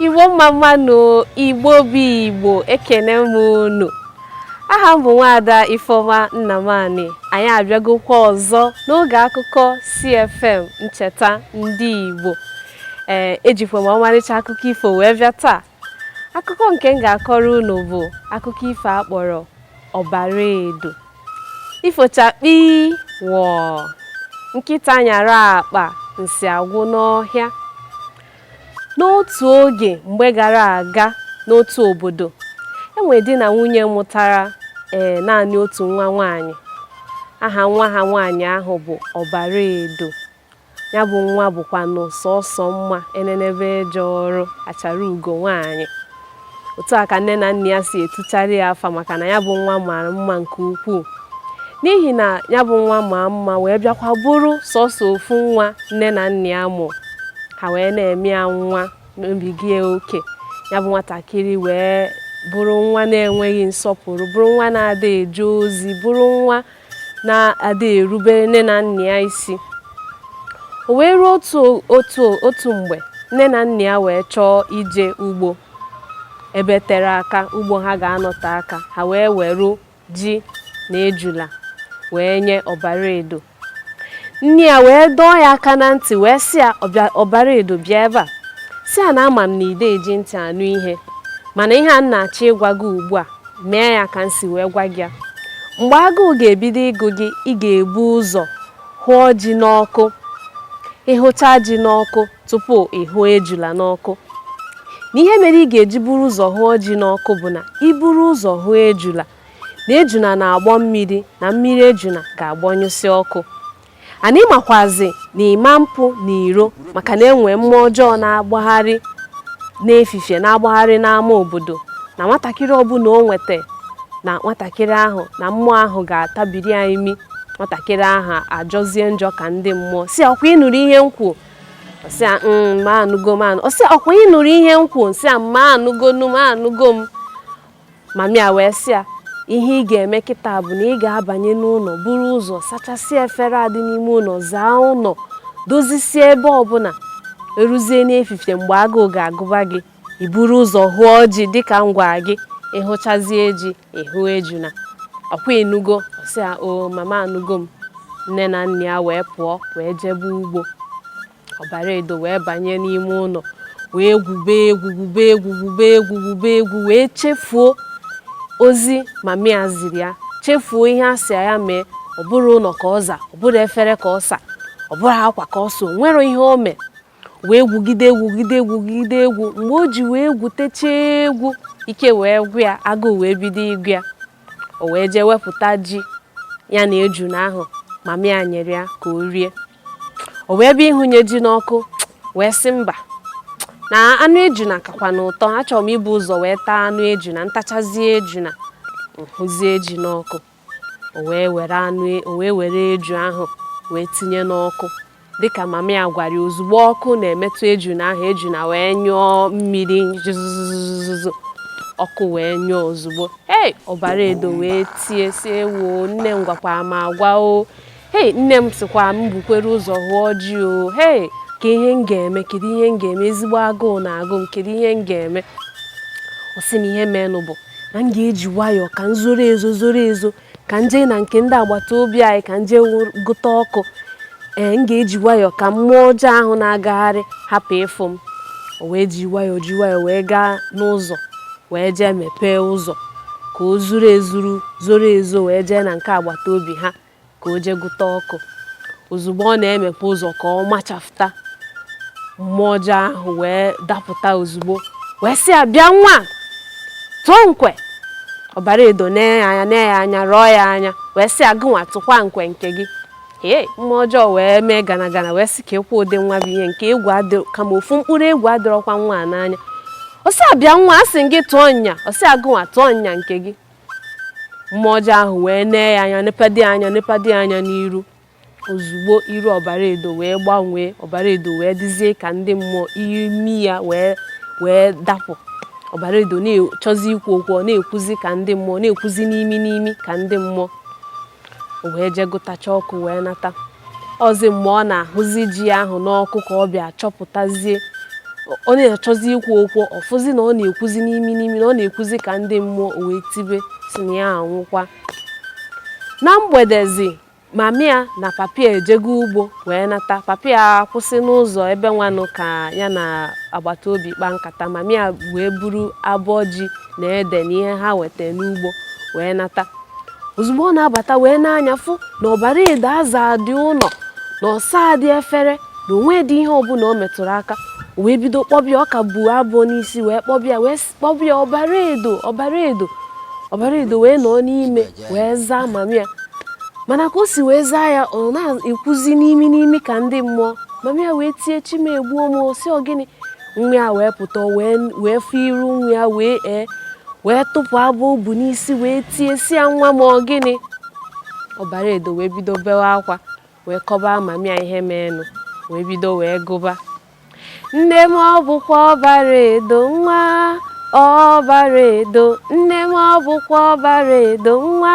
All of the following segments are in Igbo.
igbo mma mma nụ igbo bụ igbo ekene m unu aha m bụ nwaada ifeoma nnamani anyị abịagokwa ọzọ n'oge akụkọ CFM ncheta ndị igbo ee ejikwa m ọmarịcha akụkọ ifo wee bịa taa akụkọ nke m ga-akọrọ unu bụ akụkọ ifo a kpọrọ ọbara edo ifo chakpi wọọ nkịta nyara akpa nsị agwụ n'ọhịa n'otu oge mgbe gara aga n'otu obodo enwe di na nwunye mụtara ee naanị otu nwa nwaanyị aha nwa ha nwaanyị ahụ bụ ọbara edo ya bụ nwa bụkwanụ sọsọ mma enenebe eje ọrụ achara ugo nwaanyị otu a ka nne na nna ya si etuchara ya afa maka na ya bụ nwa mara mma nke ukwuu n'ihi na ya bụ nwa maa mma wee bịakwa bụrụ sọsọ ofu nwa nne na nna ya mụ ha wee na-eme ya nwa mebiga oke ya bụ nwatakịrị wee bụrụ nwa na-enweghị nsọpụrụ bụrụ nwa na-ada eje ozi bụrụ nwa na-adịghị erubere nne na nna ya isi o wee ruo otu otu otu mgbe nne na nna ya wee chọọ ije ugbo ebe tere aka ugbo ha ga-anọte aka ha wee weru ji na ejula wee nye ọbara edo nne ya wee dọọ ya aka na ntị wee sị ya ọbara edo bịa ebe a sị ya na ama m na ị da eji ntị anụ ihe mana ihe a m na-achọ ịgwa gị ugbu a mee ya ka m si wee gwa gị ya mgbe agụụ ga-ebido ịgụ gị ị ga-ebu ụzọ hụọ ji n'ọkụ ị hụcha ji n'ọkụ tupu ị hụọ ejula n'ọkụ na ihe mere ị ga-eji buru ụzọ hụọ ji n'ọkụ bụ na i buru ụzọ hụọ ejula na ejuna na-agbọ mmiri na mmiri ejuna ga-agbọnyụsị ọkụ and ị makwazi na ị ma mpụ n'iro maka na enwee mmụọ ọjọọ na-agbagharị n'efifie na-agbagharị n'ama obodo na nwatakịrị ọbụla o nweta na nwatakịrị ahụ na mmụọ ahụ ga-atabiri ya imi nwatakịrị ahụ ajọzie njọ ka ndị mmụọ sị ya ọkwa ị nụrụ ihe m kwuo ọ sị ya mama anụgo m anụ ọ sị ọkwa ị nụrụ ihe m kwuo ọ sị ya mama anụgonụ m anụgo m mama ya wee sị ya ihe ị ga-eme kịta bụ na ị ga-abanye n'ụlọ buru ụzọ sachasịa efere a dị n'ime ụlọ zaa ụlọ dozisie ebe ọbụla e ruzie n'efifie mgbe agụụ ga-agụba gị i buru ụzọ hụọ ji dịka m gwara gị ị hụchazie ji ị hụọ ejuna ọkwa ị nụgo ọ sị ya o mama anụgo m nne na nna ya wee pụọ wee jebe ugbo ọbara edo wee banye n'ime ụlọ wee gwube egwu gwube egwu gwube egwu gwube egwu wee chefuo ozi mama ya ziri ya chefuo ihe a sị ya mee ọ bụrụ ụlọ ka ọ za ọ bụrụ efere ka ọ sa ọ bụrụ akwa ka ọ sa o nwerọ ihe o mee wee gwugide egwu gwugide egwu gwugide egwu mgbe o ji wee gwuchaa egwu ike wee gwụ ya agụụ wee bido ịgụ ya o wee jee wepụta ji ya na ejuna ahụ mama ya nyere ya ka o rie o wee bịa ịhụnye ji n'ọkụ wee sị mba na anụ ejuna kakwanụ ụtọ achọrọ m ibu ụzọ wee taa anụ ejuna m tachazie ejuna m hụzie ji n'ọkụ o wee were anụ e, o wee were eju ahụ wee tinye n'ọkụ dịka mama ya gwara ya ozugbo ọkụ na-emetụ ejuna ahụ ejuna wee nyụọ mmiri zụzụzụzụ ọkụ wee nyụọ ozugbo ee ọbara edo wee tie sị ewo nne m gwakwara m agwa o hei nne m sịkwa m bukwere ụzọ hụọ ji o hei kee ihe m ga-eme kedu ihe m ga-eme ezigbo agụụ na-agụ m kedu ihe m ga-eme ọ sị na ihe meenụ bụ na m ga-eji nwayọọ ka m zoro ezo zoro ezo ka m jee na nke ndị agbata obi anyị ka m jee gụta ọkụ ee m ga-eji nwayọọ ka mmụọ ọjọọ ahụ na-agagharị hapụ ịfụ m o wee ji nwayọọ ji nwayọọ wee gaa n'ụzọ wee jee mepee ụzọ ka o zoro ezo zoro ezo wee jee na nke agbata obi ha ka o jee gụta ọkụ ozugbo ọ na-emepe ụzọ ka ọ machafụta mmụọ ọjọọ ahụ wee dapụta ozugbo wee sị ya bịa nwa tụọ ukwe ọbara edo nee ya anya nee ya anya rọọ ya anya wee sị ya gụnwa tụkwa ukwe nke gị ee mmụọ ọjọọ wee mee gana gana wee sị keekwa ụdị nwa bụ ihe nke egwu adịrọ kama ofu mkpụrụ egwu adịrọkwa nwa a n'anya ọ sị ya bịa nwa a sị gị tụọ nya ọ sị ya gụnwa tụọ nya nke gị mmụọ ọjọọ ahụ wee nee ya anya nepadi anya nepadi anya n'iru ozugbo iru ọbara edo wee gbanwee ọbara edo wee dịzie ka ndị mmụọ imi ya wee wee dapụ ọbara edo na-achọzi ikwu okwu ọ na-ekwuzi ka ndị mmụọ na-ekwuzi n'imi n'imi ka ndị mmụọ o wee jee gụtacha ọkụ wee nata ozi mgbe ọ na-ahụzi ji ahụ n'ọkụ ka ọ bịa chọpụtazie ọ na-achọzi ikwu okwu ọ fụzi na ọ na-ekwuzi n'imi n'imi na ọ na-ekwuzi ka ndị mmụọ o wee tibe sị na ya anwụkwa na mgbedezi mama ya na papa ya ejego ugbo wee nata papa ya akwụsị n'ụzọ ebe nwanụ ka ya na agbata obi kpaa nkata mama ya wee buru abọ ji na ede na ihe ha weta n'ugbo wee nata ozugbo ọ na-abata wee nee anya fụ na ọbara edo azadị ụnọ na ọ sadị efere na o nwedị ihe ọbụna o metụrụ aka o wee bido kpọba ya ọ ka bu abọ n'isi wee kpọba ya wee s- kpọba ya ọbara edo ọbara edo ọbara edo wee nọ n'ime wee zaa mami ya mana ka o si wee zaa ya ọ na-ekwuzi n'imi n'imi ka ndị mmụọ mami ya wee tie chi m egbuo m sị ọ gịnị nwa ya wee pụta wee fụ iru nwa ya wee ee wee tụpụ abọ o bu n'isi wee tie sị ya nwa m ọ gịnị ọbara edo wee bido bewe akwa wee kọba mami ya ihe meenụ wee bido wee gụba nne m ọ bụkwa ọbara edo nwa ọbara edo nne m ọ bụkwa ọbara edo nwa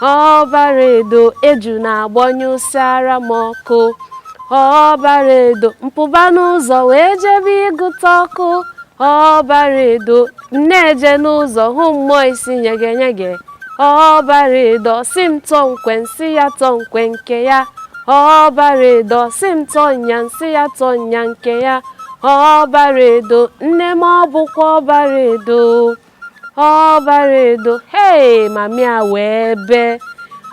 ọbara edo ejuna agbanyụsịara m ọkụ ọbara edo m pụba n'ụzọ wee jebe ịgụta ọkụ ọbara edo m na-eje n'ụzọ hụ mmụọ isi nyegenyege ọbara edo sị m tọọ nkwe m sị ya tọọ nkwe nke ya ọbara edo sị m tọọ nya m sị ya tọọ nya nke ya ọbara edo nne m ọ bụkwa ọbara edo ọbara edo hei mami ya wee bee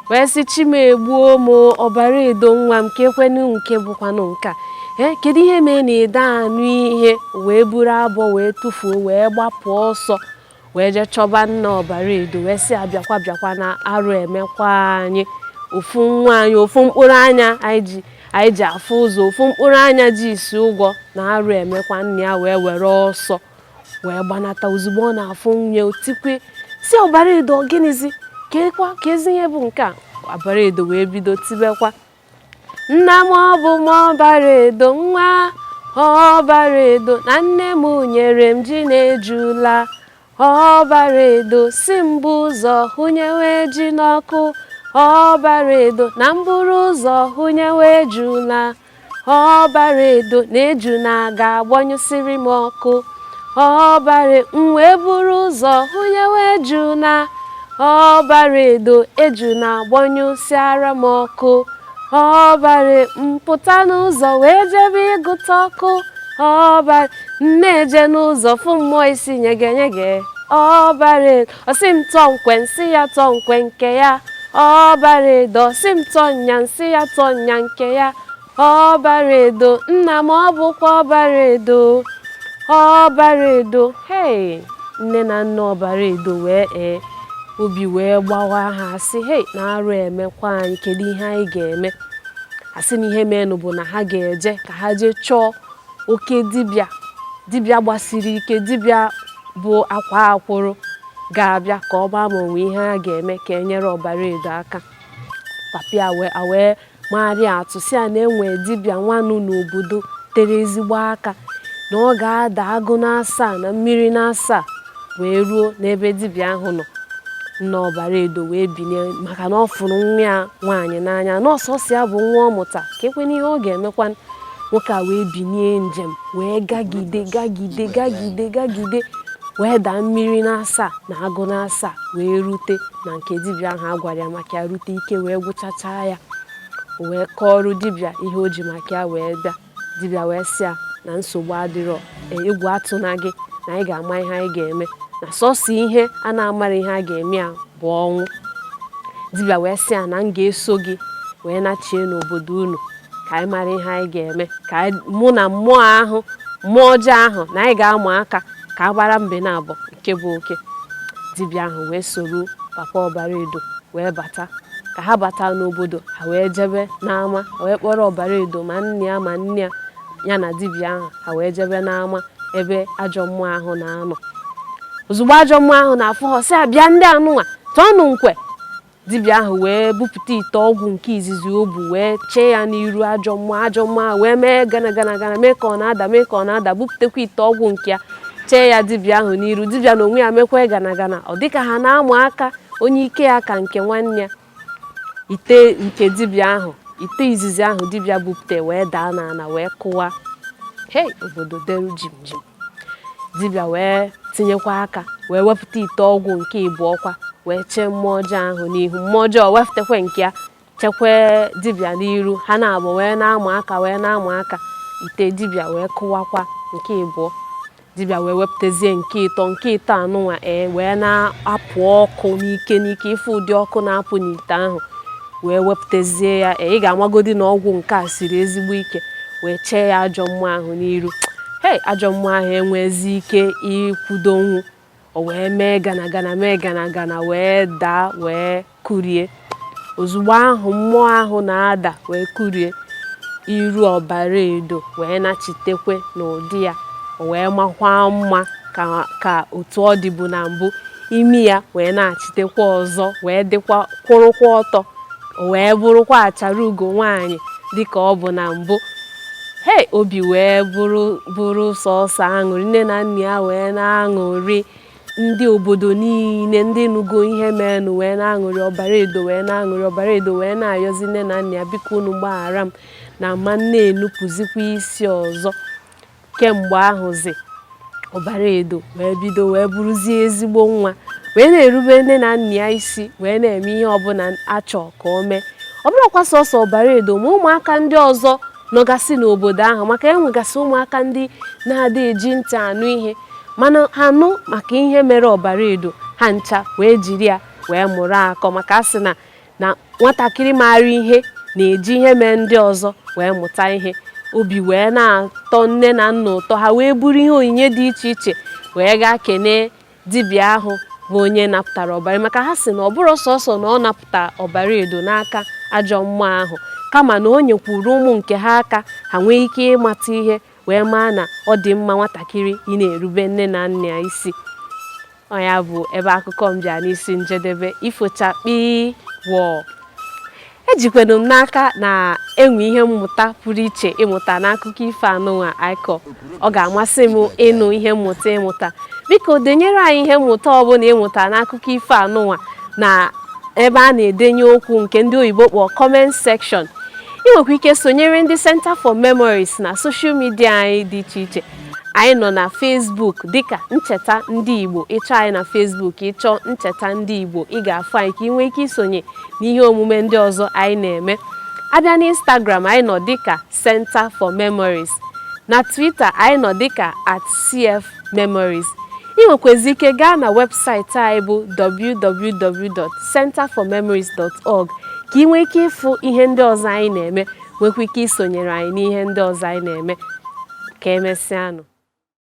wee sị chi m egbuo m ọbara edo nwa m kekwanụ nke bụkwanụ nka ee kedu ihe mee na ị da anụ ihe wee buru abọ wee tụfuo wee gbapụ ọsọ wee jee chọba nna ọbara edo wee sị ya bịakwa bịakwa na arụ emekwa anyị ofu nwa anyị ofu mkpụrụ anya anyị ji anyị ji afụ ụzọ ofu mkpụrụ anya ji isi ụgwọ na arụ emekwa nna ya wee were ọsọ wee gbanata ozugbo ọ na-afụ nwa ya o tikwe sị ọbara edo gịnịzi kekwa kezi ihe bụ nke a ọbara edo wee bido tibekwa nna m ọ bụ m ọbara edo nwa ọbara edo na nne m nyere m ji na ejula ọbara edo sị m bu ụzọ hụnyewe ji n'ọkụ ọbara edo na m buru ụzọ hụnyewe ejula ọbara edo na ejuna ga-agbanyụsịrị m ọkụ ọbara m wee buru ụzọ hụnyewe ejuna ọbara edo ejuna agbanyụsịara m ọkụ ọbara m pụta n'ụzọ wee jebe ịgụta ọkụ ọbara m na-eje n'ụzọ fụ mmụọ isi nyege nyege ọbara edo Ọ sị m tọọ nkwe m sị ya tọọ nkwe nke ya ọbara edo ọ sị m tọọ nya m sị ya tọọ nya nke ya ọbara edo nna m ọ bụkwa ọbara edo ọbara edo hei nne na nna ọbara edo wee ee obi wee gbawa ha a sị hei na arụ emekwa anyị kedu ihe anyị ga-eme a sị na ihe meenụ bụ na ha ga-eje ka ha jee chọọ oke dibịa dibịa gbasiri ike dibịa bụ akwa akwụrụ ga-abịa ka ọ gbaa ma o nwe ihe a ga-eme ka e nyere ọbara edo aka papa ya wee mara ya atụ sị ya na e nwe dibịa nwanụ n'obodo tere ezigbo aka na ọ ga-ada agụ n'asaa na mmiri n'asaa wee ruo n'ebe dibịa ahụ nọ nna ọbara edo wee binie maka na ọ fụrụ nwa ya nwaanyị n'anya na ọ sọsọ ya bụ nwa ọ mụta kekwanụ ihe ọ ga-emekwa nwoke a wee binie njem wee gagide gagide gagide gagide wee daa mmiri n'asaa na agụ n'asaa wee rute na nke dibịa ahụ a gwara ya maka ya rute ike wee gwụchachaa ya o wee kọọrọ dibịa ihe o ji maka ya wee bịa dibịa wee sị ya na nsogbu adịrọ e, egwu atụna gị na anyị ga-ama ihe anyị ga-eme na sọsọ ihe a na-amarọ ihe a ga-eme ya bụ ọnwụ dibịa wee sị ya na m ga-eso gị wee nachie n'obodo unu ka anyị mara ihe anyị ga-eme ka mụ na mmụọ ahụ mmụọ ọjọọ ahụ na anyị ga-ama aka ka a mara mbe n'abọ nke bụ oke dibịa ahụ wee soro papa ọbara edo wee bata ka ha bata n'obodo ha wee jebe n'ama ha wee kpọrọ ọbara edo ma nne ya ma nna ya ya na dibịa ahụ ha wee jebe n'ama ebe ajọ mmụọ ahụ na-anọ ozugbo ajọ mmụọ ahụ na-afụ ha sị abịa ndị anụnwa tọọnụ nkwe dibịa ahụ wee bupụta ite ọgwụ nke izizi o bu wee chee ya n'iru ajọ mmụọ ajọ mmụọ ahụ wee mee gana gana gana mee ka ọ na-ada mee ka ọ na-ada bupụtakwa ite ọgwụ nke ya chee ya dibịa ahụ n'iru dibịa n'onwe ya mekwa gana gana ọ dịka ha na-amụ aka onye ike ya ka nke nwanne ya ite nke dibịa ahụ ite izizi ahụ dibịa bupụta wee daa n'ala wee kụwa hei obodo deru jim jim dibịa wee tinyekwa aka wee wepụta ite ọgwụ nke ịbụọ kwa wee chee mmụọ ọjọọ ahụ n'ihu mmụọ ọjọọ wepụtakwa nke ya chekwa dibịa n'iru ha n'abọ wee na-ama aka wee na-ama aka ite dibịa wee kụwakwa nke ịbụọ dibịa wee wepụtazie nke ịtọ nke ịtọ anụnwa ee wee na-apụ ọkụ n'ike n'ike ị fụ ụdị ọkụ na-apụ n'ite ahụ wee wepụtazie ya e, ị ga-amagodi na ọgwụ nke a siri ezigbo ike wee chee ya ajọ mmụọ ahụ n'iru hei ajọ mmụọ ahụ enwezi ike ịkwudonwu o wee mee gana gana mee gana gana wee daa wee kụrie ozugbo ahụ mmụọ ahụ na-ada wee kụrie iru ọbara edo wee nachitekwe n'ụdị ya o wee makwa mma ka otu ọ dịbu na mbụ imi ya wee nachitekwa ọzọ wee dịkwa kwụrụkwa ọtọ wee bụrụkwa achara ugo nwaanyị dịka ọ bụ na mbụ hei obi wee bụrụ bụrụ sọsọ aṅụrị nne na nna ya wee na-aṅụrị ndị obodo niile ndị nugo ihe menụ wee na-aṅụrị ọbara edo wee na-aṅụrị ọbara edo wee na-ayọzi nne na nna ya biko unu gbaghara m na m ma na-enupụzikwa isi ọzọ kemgbe ahụzi ọbara edo wee bido wee bụrụzie ezigbo nwa wee na-erube nne na nna ya isi wee na-eme ihe ọbụla a chọ ka o mee ọ bụrọkwa sọsọ ọbara edo ma ụmụaka ndị ọzọ nọgasị n'obodo ahụ maka e nwegasị ụmụaka ndị na-adị eji ntị anụ ihe mana ha nụ maka ihe mere ọbara edo ha ncha wee jiri ya wee mụrụ akọ maka a sị na na nwatakịrị maara ihe na-eji ihe mee ndị ọzọ wee mụta ihe obi wee na-atọ nne na nna ụtọ ha wee buru ihe onyinye dị iche iche wee gaa kenee dibịa ahụ bụ onye napụtara ọbara maka ha si na ọ bụrọ sọsọ na ọ napụta ọbara edo n'aka ajọ mmụọ ahụ kama na o nyekwuru ụmụ nke ha aka ha nwee ike ịmata ihe wee maa na ọ dị mma nwatakịrị ị na-erube nne na nna ya isi ọ ya bụ ebe akụkọ m bịa n'isi njedebe ifo chakpii wọọ ejikwanụ m n'aka na e nwe ihe mmụta pụrụ iche ị mụta n'akụkọ ifo anụnwa anyị kọ ọ ga-amasị m ịnụ ihe mmụta ị mụta biko denyere anyị ihe mmụta ọbụla ị mụta n'akụkọ ifo anụnwa na ebe a na-edenye okwu nke ndị oyibo kpọọ comment section ị nwekwa ike sonyere ndị Centre for Memories na soshal midia anyị dị iche iche anyị nọ na Facebook dịka ncheta ndị Igbo ị chọọ anyị na Facebook ị chọọ ncheta ndị Igbo ị ga-afụ anyị ka ị nwee ike isonye n'ihe omume ndị ọzọ anyị na-eme a bịa na Instagram anyị nọ dịka Centre for Memories na Twitter anyị nọ dịka at CF Memories. Ị nwekwazị ike gaa na webụsaịtị anyị bụ www.centreformemories.org ka ị nwee ike ịfụ ihe ndị ọzọ anyị na-eme nwekwa ike isonyere anyị n'ihe ndị ọzọ anyị na-eme ka emesịanụ